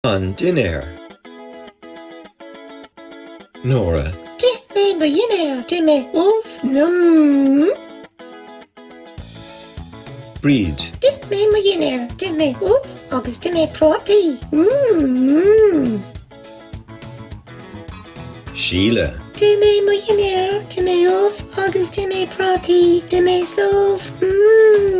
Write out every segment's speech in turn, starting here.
An dinnéar. Nóra. D'ith mé mo dhinnéar. D'ith mé ubh. Mmm. Bríd. D'ith mé mo dhinnéar. D'ith mé ubh agus d'ith mé prátaí. Mmm. Síle. D'ith mé mo dhinnéar. D'ith mé ubh agus d'ith mé prátaí. D'ith mé subh. Mmm.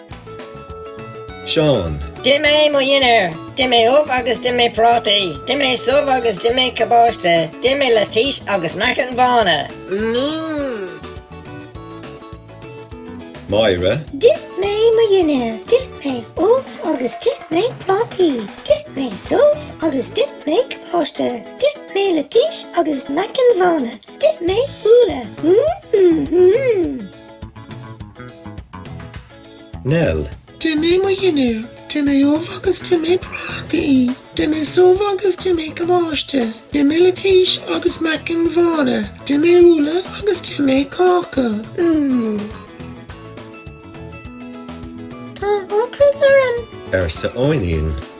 Seán. D'ith mé mo dhinnéar. D'ith mé ubh agus d'ith mé prátaí. D'ith mé subh agus d'ith mé cabáiste. D'ith mé leitís agus meacain bhána. Máire. D'ith mé mo dhinnéar. D'ith mé ubh agus d'ith mé prátaí. D'ith mé subh agus d'ith mé cabáiste. D'ith mé leitís agus meacain bhána. D'ith mé úlla. Nell. D'ith mé mo dhinnéar, d'ith mé ubh agus d'ith mé prátaí, d'ith mé subh agus d'ith mé cabáiste, d'ith mé leitís agus meacain bhána, d'ith mé úlla agus d'ith mé cáca. Mmm. Tá ocras orm. arsa Eoghainín.